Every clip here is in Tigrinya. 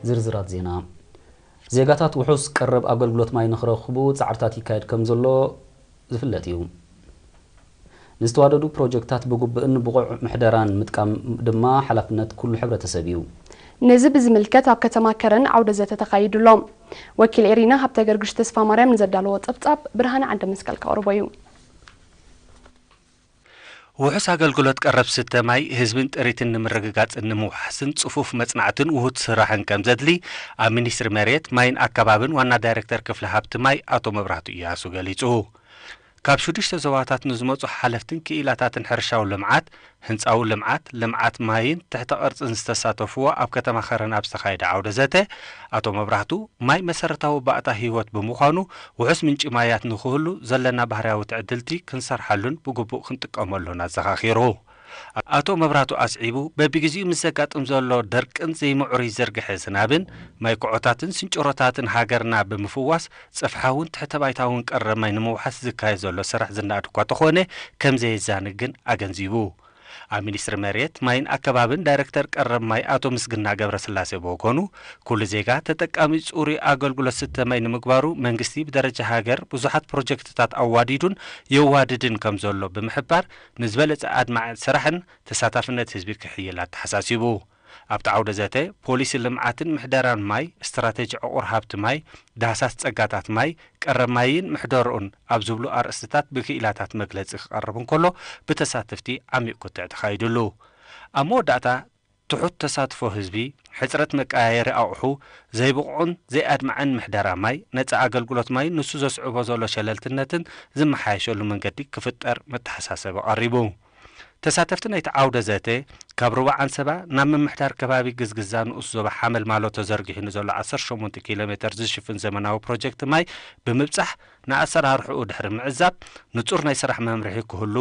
ዝርዝራት ዜና፣ ዜጋታት ውሑስ ቀረብ ኣገልግሎት ማይ ንኽረኽቡ ፃዕርታት ይካየድ ከምዘሎ ዝፍለጥ ኢዩ። ንዝተዋደዱ ፕሮጀክትታት ብግቡእን ብቑዕ ምሕደራን ምጥቃም ድማ ሓላፍነት ኩሉ ሕብረተሰብ ኢዩ። ነዚ ብዝምልከት ኣብ ከተማ ከረን ዓውደ ዘተ ተኻይዱ ኣሎ። ወኪል ኤሪና ሃብተገርግሽ ተስፋማርያም ንዘዳለዎ ፀብፃብ ብርሃነ ዓንደመስቀል ከቕርቦ እዩ። ውሑስ ኣገልግሎት ቀረብ ስተ ማይ ህዝብን ጥሪትን ንምርግጋፅን ንምውሓስን ፅፉፍ መፅናዕትን ውሁድ ስራሕን ከምዘድሊ ኣብ ሚኒስትሪ መሬት፣ ማይን ኣከባብን ዋና ዳይሬክተር ክፍሊ ሃብቲ ማይ ኣቶ መብራህቱ እያሱ ገሊፁ። ካብ ሽዱሽተ ዞባታት ንዝመፁ ሓለፍትን ክኢላታትን ሕርሻዊ ልምዓት፣ ህንጻዊ ልምዓት፣ ልምዓት ማይን ትሕተ ቅርጽን ዝተሳተፍዎ ኣብ ከተማ ከረን ኣብ ዝተኻየደ ዓውደ ዘተ፣ ኣቶ መብራህቱ፣ ማይ መሰረታዊ ባእታ ህይወት ብምዃኑ ውሑስ ምንጪ ማያት ንክህሉ ዘለና ባህርያዊ ትዕድልቲ ክንሰርሓሉን ብግቡእ ክንጥቀመሉን ኣዘኻኺሩ። ኣቶ መብራህቱ ኣስዒቡ፣ በቢግዜኡ ምስ ዘጋጥም ዘሎ ደርቅን ዘይምዕሩይ ዝርግሐ ዝናብን፣ ማይ ኩዖታትን ስንጭሮታትን ሃገርና ብምፍዋስ፣ ጽፍሓውን ትሕተ-ባይታውን ቀረብ ማይ ንምውሓስ ዝካየድ ዘሎ ስራሕ ዝነኣድ እኳ ተኾነ ከምዘየዛኒ ግን ኣገንዚቡ። ኣብ ሚኒስትሪ መሬት፣ ማይን ኣከባብን ዳይረክተር ቀረብ ማይ ኣቶ ምስግና ገብረስላሴ ብወገኑ፣ ኩሉ ዜጋ ተጠቃሚ ጽሩይ ኣገልግሎት ዝስተ ማይ ንምግባሩ መንግስቲ ብደረጃ ሃገር ብዙሓት ፕሮጀክትታት ኣዋዲዱን የዋድድን ከምዘሎ ብምሕባር፣ ንዝበለጸ ኣድማዒ ስራሕን ተሳታፍነት ህዝቢ ክሕይል ኣተሓሳሲቡ። ኣብቲ ዓውደ ዘተ፣ ፖሊሲ ልምዓትን ምሕደራን ማይ፣ ስትራቴጂ ዕቑር ሃብቲ ማይ፣ ዳህሳስ ፀጋታት ማይ፣ ቀረብ ማይን ምሕደርኡን ኣብ ዝብሉ ኣርእስትታት ብክኢላታት መግለፂ ክቐርብ እንከሎ ብተሳተፍቲ ዓሚቕ ክትዕ ተኻይድሉ። ኣብ መወዳእታ፣ ትሑት ተሳትፎ ህዝቢ፣ ሕፅረት መቀያየሪ ኣቑሑ፣ ዘይብቑዕን ዘይኣድማዕን ምሕደራ ማይ፣ ነፃ ኣገልግሎት ማይን ንሱ ዘስዕቦ ዘሎ ሸለልትነትን ዝመሓየሸሉ መንገዲ ክፍጠር መተሓሳሰቢ ቀሪቡ። ተሳተፍቲ ናይቲ ዓውደ ዘተ፣ ካብ ሩባ ዓንሰባ ናብ ምምሕዳር ከባቢ ግዝግዛ ንኡስ ዞባ ሓመልማሎ ተዘርጊሑ ንዘሎ ዓሰርተ ሸሞንተ ኪሎ ሜተር ዝሽፍን ዘመናዊ ፕሮጀክት ማይ ብምብጻሕ ንኣሰራርሕኡ ድሕሪ ምዕዛብ ንጹር ናይ ስራሕ መምርሒ ክህሉ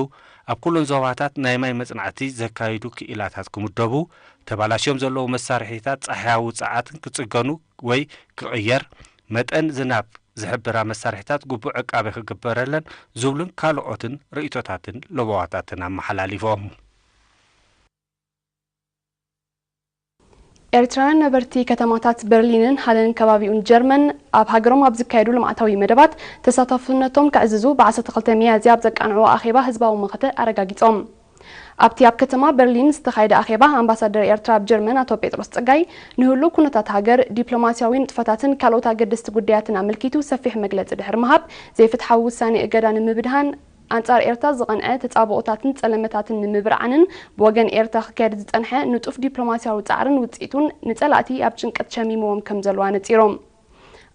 ኣብ ኩለን ዞባታት ናይ ማይ መጽናዕቲ ዘካይዱ ክኢላታት ክምደቡ ተባላሽዮም ዘለዉ መሳርሒታት ጻሕያዊ ጸዓትን ክጽገኑ ወይ ክቕየር፣ መጠን ዝናብ ዝሕብራ መሳርሒታት ግቡእ ዕቃበ ክግበረለን ዝብሉን ካልኦትን ርእይቶታትን ለበዋታትን ኣመሓላሊፎም። ኤርትራውያን ነበርቲ ከተማታት በርሊንን ሃለን ከባቢኡን ጀርመን ኣብ ሃገሮም ኣብ ዝካየዱ ልምዓታዊ መደባት ተሳታፍነቶም ከዕዝዙ ብ ዓሰርተ ክልተ ሚያዝያ ኣብ ዘቃንዕዎ ኣኼባ ህዝባዊ መኸተ ኣረጋጊጾም። ኣብቲ ኣብ ከተማ በርሊን ዝተኻየደ ኣኼባ፣ ኣምባሳደር ኤርትራ ኣብ ጀርመን ኣቶ ጴጥሮስ ጸጋይ፣ ንህሉው ኩነታት ሃገር፣ ዲፕሎማስያዊ ንጥፈታትን ካልኦት ኣገደስቲ ጉዳያትን ኣመልኪቱ ሰፊሕ መግለጺ ድሕሪ ምሃብ፣ ዘይፍትሓዊ ውሳኔ እገዳ ንምብድሃን፣ ኣንጻር ኤርትራ ዝቐንዐ ተጻብኦታትን ጸለመታትን ንምብርዓንን ብወገን ኤርትራ ክካየድ ዝጸንሐ ንጡፍ ዲፕሎማስያዊ ጻዕርን ውጽኢቱን ንጸላእቲ ኣብ ጭንቀት ሸሚምዎም ከምዘለዉ ኣነጺሮም።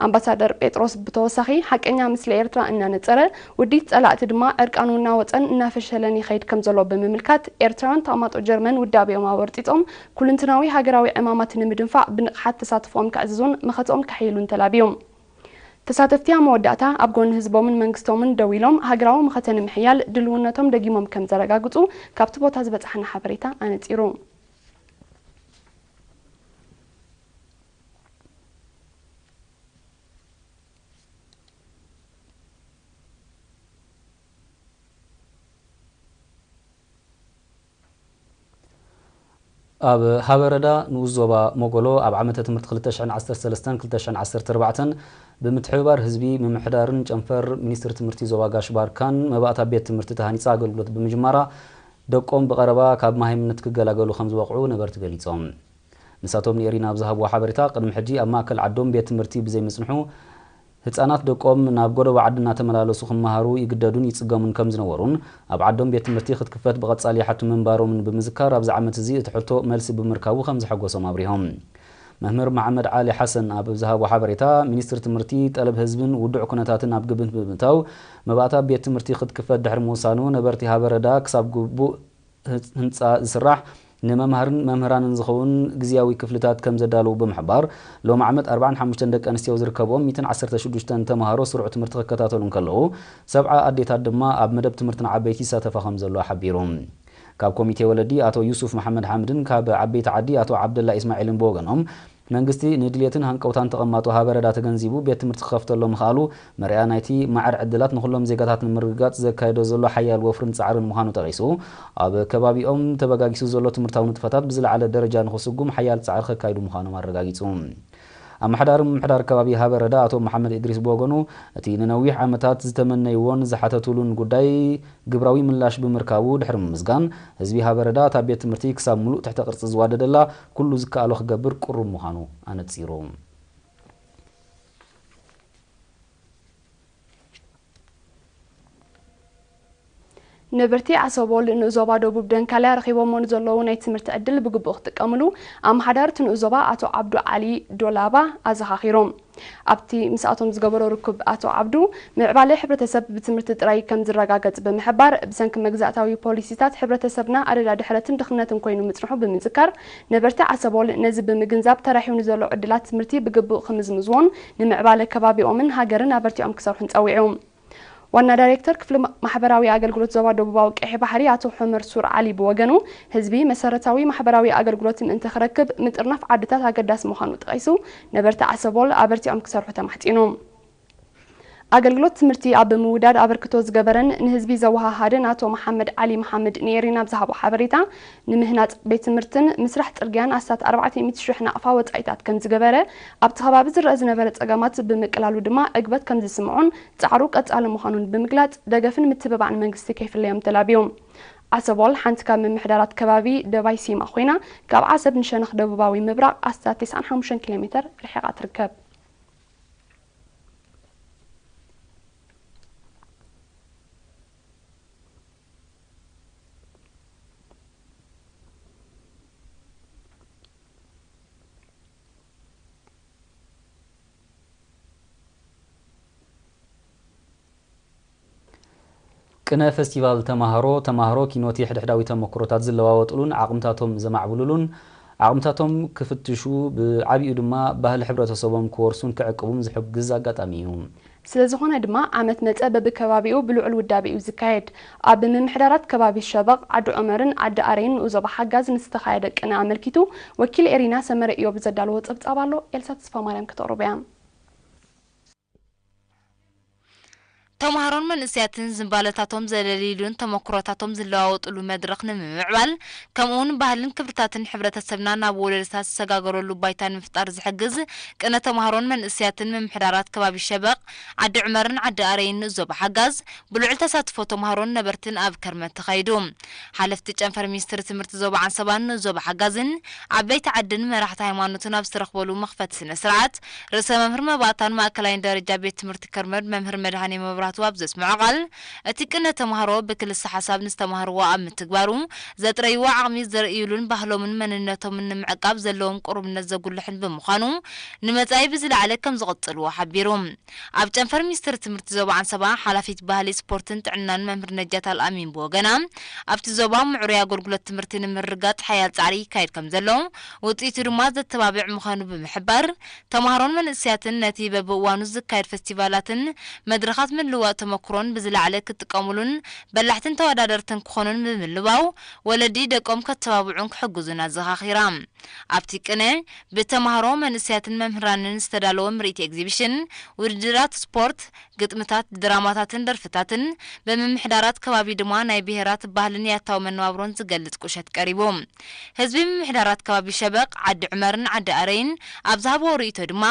ኣምባሳደር ጴጥሮስ ብተወሳኺ፣ ሓቀኛ ምስሊ ኤርትራ እናነጸረ፣ ውዲት ጸላእቲ ድማ ዕርቃኑ እናወጸን እናፈሸለን ይኸይድ ከምዘሎ ብምምልካት፣ ኤርትራውያን ተቐማጦ ጀርመን ውዳቤኦም ኣወርጢጾም ኩሉንትናዊ ሃገራዊ ዕማማት ንምድንፋዕ ብንቕሓት ተሳትፎኦም ከዕዝዙን መኸተኦም ከሕይሉን ተላብዩ። ተሳተፍቲ ኣብ መወዳእታ፣ ኣብ ጎኒ ህዝቦምን መንግስቶምን ደው ኢሎም ሃገራዊ መኸተ ንምሕያል ድልውነቶም ደጊሞም ከምዘረጋግጹ ካብቲ ቦታ ዝበጽሓና ሓበሬታ ኣነጺሩ። ኣብ ሃበረዳ ንኡስ ዞባ ሞጎሎ ኣብ ዓመተ ትምህርቲ ክልተ ሽሕን ዓሰርተ ሰለስተን ክልተ ሽሕን ዓሰርተ ኣርባዕተን ብምትሕብባር ህዝቢ ምምሕዳርን ጨንፈር ሚኒስትሪ ትምህርቲ ዞባ ጋሽ ባርካን መባእታ ቤት ትምህርቲ ተሃኒፃ ኣገልግሎት ብምጅማራ ደቆም ብቐረባ ካብ መሃይምነት ክገላገሉ ከምዝበቕዑ ነበርቲ ገሊፆም። ንሳቶም ንኤሪና ኣብ ዝሃብዎ ሓበሬታ፣ ቅድሚ ሕጂ ኣብ ማእከል ዓዶም ቤት ትምህርቲ ብዘይምጽንሑ፣ ህጻናት ደቆም ናብ ጎደቦ ዓዲ እናተመላለሱ ክመሃሩ ይግደዱን ይጽገሙን ከም ዝነበሩን፣ ኣብ ዓዶም ቤት ትምህርቲ ክትክፈት ብቐጻሊ ይሓቱ ምንባሮምን ብምዝካር፣ ኣብዚ ዓመት እዚ እቲ ሕቶ መልሲ ብምርካቡ ከም ዘሐጎሶም ኣብሪሆም። መምህር መሓመድ ዓሊ ሓሰን ኣብ ዝሃቦ ሓበሬታ፣ ሚኒስትሪ ትምህርቲ፣ ጠለብ ህዝብን ውዱዕ ኩነታትን ኣብ ግብት ብምእታው፣ መባእታ ቤት ትምህርቲ ክትክፈት ድሕሪ ምውሳኑ፣ ነበርቲ ሃበረዳ ክሳብ ግቡእ ህንፃ ዝስራሕ ንመማህርን መምህራንን ዝኸውን ግዝያዊ ክፍልታት ከምዘዳልው ብምሕባር፣ ሎሚ ዓመት ኣርባዓን ሓሙሽተን ደቂ ኣንስትዮ ዝርከብኦም ሚእትን ዓሰርተ ሽዱሽተን ተምሃሮ ስሩዕ ትምህርቲ ክከታተሉ እንከለው፣ ሰብዓ ኣዴታት ድማ ኣብ መደብ ትምህርቲ ንዓበይቲ ይሳተፋ ከምዘለዋ ሓቢሩ። ካብ ኮሚቴ ወለዲ ኣቶ ዩሱፍ መሓመድሓምድን ካብ ዓበይቲ ዓዲ ኣቶ ዓብደላ ኢስማዒልን ብወገኖም፣ መንግስቲ ንድልየትን ሃንቀውታን ተቐማጦ ሃበረዳ ተገንዚቡ ቤት ትምህርቲ ክኸፍተሎም ምኽኣሉ፣ መርኣያ ናይቲ ማዕረ ዕድላት ንኹሎም ዜጋታት ንምርግጋጽ ዘካይዶ ዘሎ ሓያል ወፍርን ጻዕርን ምዃኑ ጠቒሱ፣ ኣብ ከባቢኦም ተበጋጊሱ ዘሎ ትምህርታዊ ንጥፈታት ብዝለዓለ ደረጃ ንኽስጉም ሓያል ጻዕሪ ከካይዱ ምዃኖም ኣረጋጊጹ። ኣመሓዳሪ ምምሕዳር ከባቢ ሃበረዳ ኣቶ መሓመድ እድሪስ ብወገኑ፣ እቲ ንነዊሕ ዓመታት ዝተመነይዎን ዝሓተቱሉን ጉዳይ ግብራዊ ምላሽ ብምርካቡ ድሕሪ ምምስጋን፣ ህዝቢ ሃበረዳ እታ ቤት ትምህርቲ ክሳብ ምሉእ ትሕተ ቅርጺ ዝዋደደላ፣ ኩሉ ዝከኣሎ ክገብር ቅሩብ ምዃኑ ኣነጺሩ። ንብርቲ ኣሰቦል ንዞባ ደቡብ ደንካልያ ረኺቦሞ ንዘለዉ ናይ ትምህርቲ ዕድል ብግቡእ ክጥቀምሉ ኣመሓዳሪ እቲ ንኡስ ዞባ ኣቶ ዓብዱ ዓሊ ዶላባ ኣዘኻኺሩ። ኣብቲ ምስኣቶም ዝገበሮ ርኩብ ኣቶ ዓብዱ፣ ምዕባለ ሕብረተሰብ ብትምህርቲ ጥራይ ከም ዝረጋገጽ ብምሕባር፣ ብሰንኪ መግዛእታዊ ፖሊሲታት ሕብረተሰብና ኣደዳ ድሕረትን ድኽነትን ኮይኑ ምጽንሑ ብምዝካር፣ ነበርቲ ዓሰቦል ነዚ ብምግንዛብ ተራሕዩ ንዘሎ ዕድላት ትምህርቲ ብግቡእ ክምዝምዝዎን ንምዕባለ ከባቢኦምን ሃገርን ኣበርቲዖም ክሰርሑን ጸዊዑ። ዋና ዳይሬክተር ክፍሊ ማሕበራዊ ኣገልግሎት ዞባ ደቡባዊ ቀይሕ ባሕሪ ኣቶ ሑመር ሱር ዓሊ ብወገኑ፣ ህዝቢ መሰረታዊ ማሕበራዊ ኣገልግሎት ምእንቲ ክረክብ ምጥርናፍ ዓድታት ኣገዳሲ ምዃኑ ጠቒሱ፣ ነበርቲ ዓሰቦል ኣበርቲዖም ክሰርሑ ተማሕጺኑ። ኣገልግሎት ትምህርቲ ኣብ ምውዳድ ኣበርክቶ ዝገበረን ንህዝቢ ዘወሃሃደን ኣቶ መሓመድ ዓሊ መሓመድ ንኤሪና ኣብ ዝሃቦ ሓበሬታ፣ ንምህናፅ ቤት ትምህርትን ምስራሕ ፅርግያን ኣስታት ኣርባዕተ ሚእቲ ሽሕ ናቕፋ ወፃኢታት ከምዝገበረ፣ ኣብቲ ከባቢ ዝረኣ ዝነበረ ፀገማት ብምቅላሉ ድማ ዕግበት ከምዝስምዖን ፃዕሩ ቀፃሊ ምዃኑን ብምግላፅ ደገፍን ምትብባዕን መንግስቲ ከይፍለዮም ተላብዩ። ዓሰቦል ሓንቲ ካብ ምምሕዳራት ከባቢ ደባይ ሲማ ኮይና ካብ ዓሰብ ንሸነኽ ደቡባዊ ምብራቕ ኣስታት ተስዓን ሓሙሽተን ኪሎ ሜተር ርሒቓ ትርከብ። ቅነ ፈስቲቫል ተማሃሮ፣ ተማሃሮ ኪኖት የሕድሕዳዊ ተመክሮታት ዝለዋወጥሉን ዓቕምታቶም ዘማዕብልሉን፣ ዓቕምታቶም ክፍትሹ፣ ብዓቢኡ ድማ ባህሊ ሕብረተሰቦም ክወርሱን ክዕቅቡም ዝሕግዝ ኣጋጣሚ እዩ። ስለዝኾነ ድማ ዓመት መጸ በብከባቢኡ ብልዑል ውዳቤ'ዩ ዝካየድ። ኣብ ምምሕዳራት ከባቢ ሸበቕ፣ ዓዲ ዑመርን ዓዲ ኣረይን ንኡዞባ ሓጋዝ ንዝተኻየደ ቅነ ኣመልኪቱ ወኪል ኤሪና ሰመረ እዮብ ዘዳለዎ ጸብጻብ ኣሎ ኤልሳ ተስፋማርያም ክተቕርቦ'ያ። ተማሃሮን መንእሰያትን ዝንባለታቶም ዘለልይሉን ተመኩሮታቶም ዝለዋወጥሉ መድረኽ ንምምዕባል ከምኡውን ባህልን ክብርታትን ሕብረተሰብና ናብ ወለዶታት ዝሰጋገረሉ ባይታ ንምፍጣር ዝሕግዝ ቅነ ተማሃሮን መንእሰያትን ምምሕዳራት ከባቢ ሸበቕ፣ ዓዲ ዑመርን ዓዲ ኣረይን ንዞባ ሓጋዝ ብልዑል ተሳትፎ ተማሃሮን ነበርትን ኣብ ከርመት ተኻይዱ። ሓለፍቲ ጨንፈር ሚኒስትሪ ትምህርቲ ዞባ ዓንሰባን ንዞባ ሓጋዝን ዓበይቲ ዓድን መራሕቲ ሃይማኖትን ኣብ ዝተረኽበሉ መኽፈቲ ስነ ስርዓት ርእሰ መምህር መባእታን ማእከላይን ደረጃ ቤት ትምህርቲ ከርመድ መምህር መድሃኔ መብራህቱ ኣብ ዘስመዖ ቃል እቲ ቅነ ተማሃሮ ብክልሰ ሓሳብ ንዝተማህርዎ ኣብ ምትግባሩ፣ ዘጥረይዎ ዓቕሚ ዘርእይሉን ባህሎምን መንነቶምን ንምዕቃብ ዘለዎም ቅሩብነት ዘጉልሕን ብምዃኑ ንመጻኢ ብዝለዓለ ከምዝቕጽልዎ ሓቢሩ። ኣብ ጨንፈር ሚኒስትሪ ትምህርቲ ዞባ ዓንሰባ ሓላፊት ባህሊ፣ ስፖርትን ጥዕናን መምህር ነጃት ኣልኣሚን ብወገና፣ ኣብቲ ዞባ ምዕሩይ ኣገልግሎት ትምህርቲ ንምርግጋጽ ሓያል ጻዕሪ ይካየድ ከምዘሎ፣ ውጽኢቱ ድማ ዘተባብዕ ምዃኑ ብምሕባር፣ ተማሃሮን መንእሰያትን ነቲ በብእዋኑ ዝካየድ ፈስቲቫላትን መድረኻት ምልውዋጥ ተመኩሮን ብዝለዓለ ክጥቀሙሉን በላሕትን ተወዳደርትን ክኾኑን ብምልባው ወለዲ ደቆም ከተባብዑን ክሕግዙን ኣዘኻኺራ። ኣብቲ ቅነ፣ ብተማሃሮ፣ መንእሰያትን መምህራንን ዝተዳለወ ምርኢት ኤግዚቢሽን፣ ውድድራት ስፖርት፣ ግጥምታት፣ ድራማታትን ደርፍታትን፣ ብምምሕዳራት ከባቢ ድማ ናይ ብሄራት ባህልን ያታዊ መነባብሮን ዝገልጽ ቁሸት ቀሪቡ። ህዝቢ ምምሕዳራት ከባቢ ሸበቕ፣ ዓዲ ዑመርን ዓዲ ኣረይን ኣብ ዝሃብዎ ርእይቶ ድማ፣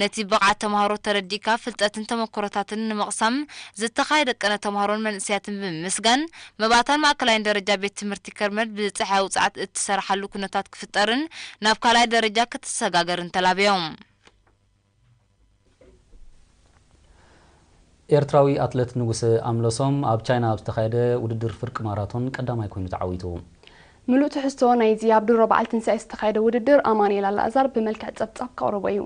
ነቲ ብቕዓት ተማሃሮ ተረዲእካ ፍልጠትን ተመክሮታትን ንምቕሳም ዝተኻየደ ቅነ ተማሃሮን መንእሰያትን ብምምስጋን፣ መባእታን ማእከላይን ደረጃ ቤት ትምህርቲ ከርመድ ብጸሓይ ውጽዓት እትሰርሓሉ ኩነታት ክፍጠርን ናብ ካልኣይ ደረጃ ክትሰጋገርን ተላብዮም። ኤርትራዊ ኣትለት ንጉሰ ኣምለሶም ኣብ ቻይና ኣብ ዝተኻየደ ውድድር ፍርቂ ማራቶን ቀዳማይ ኮይኑ ተዓዊቱ። ምሉእ ትሕዝቶ ናይዚ ኣብ ድሮ በዓል ትንሳኤ ዝተኻየደ ውድድር ኣማኑኤል ኣላእዛር ብመልክዕ ጸብጻብ ከቕርቦ እዩ።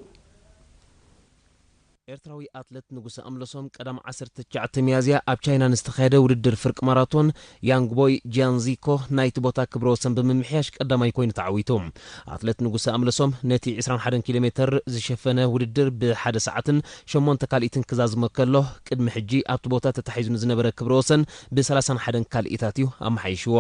ኤርትራዊ ኣትለት ንጉሰ ኣምለሶም ቀዳም ዓሰርተ ትሽዓተ ሚያዝያ ኣብ ቻይና ንዝተኻየደ ውድድር ፍርቂ ማራቶን ያንግ ቦይ ጂያንዚኮ ናይቲ ቦታ ክብረ ወሰን ብምምሕያሽ ቀዳማይ ኮይኑ ተዓዊቱ። ኣትለት ንጉሰ ኣምለሶም ነቲ ዕስራን ሓደን ኪሎ ሜተር ዝሸፈነ ውድድር ብ ሓደ ሰዓትን ሸሞንተ ካልኢትን ክዛዝሞ ከሎ ቅድሚ ሕጂ ኣብቲ ቦታ ተታሒዙ ንዝነበረ ክብረ ወሰን ብ ሰላሳን ሓደን ካልኢታት እዩ ኣመሓይሽዎ።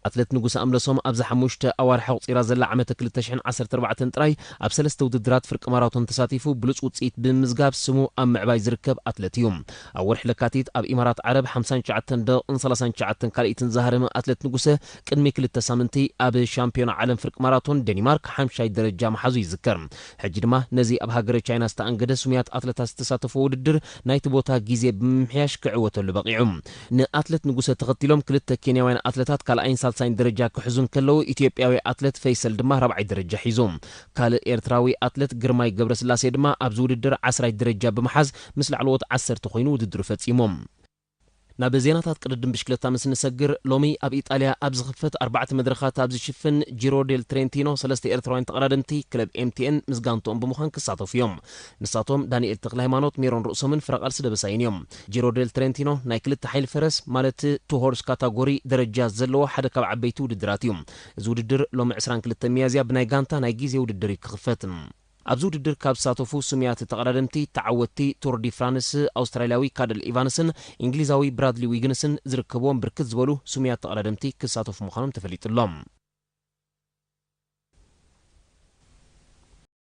ኣትለት ንጉሰ ኣምለሶም ኣብዛ ሓሙሽተ ኣዋርሕ ኣቑጺራ ዘላ ዓመተ ክልተ ሽሕን ዓሰርተ ኣርባዕተን ጥራይ ኣብ ሰለስተ ውድድራት ፍርቂ ማራቶን ተሳቲፉ ብሉጽ ውጽኢት ብምምዝጋብ ስሙ ኣብ ምዕባይ ዝርከብ ኣትለት እዩ። ኣብ ወርሒ ለካቲት ኣብ ኢማራት ዓረብ ሓምሳን ትሽዓተን ደቕን ሰላሳን ትሽዓተን ካልኢትን ዝሃረመ ኣትለት ንጉሰ ቅድሚ ክልተ ሳምንቲ ኣብ ሻምፒዮና ዓለም ፍርቂ ማራቶን ደኒማርክ ሓምሻይ ደረጃ ምሓዙ ይዝከር። ሕጂ ድማ ነዚ ኣብ ሃገረ ቻይና ዝተኣንገደ ስሙያት ኣትለታት ዝተሳተፍዎ ውድድር ናይቲ ቦታ ግዜ ብምምሕያሽ ክዕወተሉ በቒዑ። ንኣትለት ንጉሰ ተኸቲሎም ክልተ ኬንያውያን ኣትለታት ካልኣይን ሳልሳይን ደረጃ ክሕዙ እንከለዉ ኢትዮጵያዊ ኣትለት ፈይሰል ድማ ራብዓይ ደረጃ ሒዙ። ካልእ ኤርትራዊ ኣትለት ግርማይ ገብረስላሴ ድማ ኣብዚ ውድድር ዓስራይ ደረጃ ብምሓዝ ምስ ላዕለዎት ዓሰርተ ኮይኑ ውድድሩ ፈጺሞም። ናብ ዜናታት ቅድድም ብሽክለታ ምስ እንሰግር፣ ሎሚ ኣብ ኢጣልያ ኣብ ዝኽፈት ኣርባዕተ መድረኻት ኣብ ዝሽፍን ጂሮ ዴል ትሬንቲኖ ሰለስተ ኤርትራውያን ተቐዳደምቲ ክለብ ኤምቲኤን ምስ ጋንትኦም ብምዃን ክሳተፉ እዮም። ንሳቶም ዳኒኤል ተክለሃይማኖት፣ ሜሮን ርእሶምን ፍረቃልሲ ደበሳይን እዮም። ጂሮ ዴል ትሬንቲኖ ናይ ክልተ ሓይሊ ፈረስ ማለት ቱ ሆርስ ካታጎሪ ደረጃ ዘለዎ ሓደ ካብ ዓበይቲ ውድድራት እዩ። እዚ ውድድር ሎሚ ዕስራን ክልተን ሚያዝያ ብናይ ጋንታ ናይ ግዜ ውድድር እዩ ክኽፈት። ኣብዚ ውድድር ካብ ዝሳተፉ ስሙያት ተቐዳደምቲ ተዓወትቲ ቱር ዲ ፍራንስ ኣውስትራልያዊ ካደል ኢቫንስን ኢንግሊዛዊ ብራድሊ ዊግንስን ዝርከብዎም ብርክት ዝበሉ ስሙያት ተቐዳደምቲ ክሳተፉ ምዃኖም ተፈሊጡ'ሎ።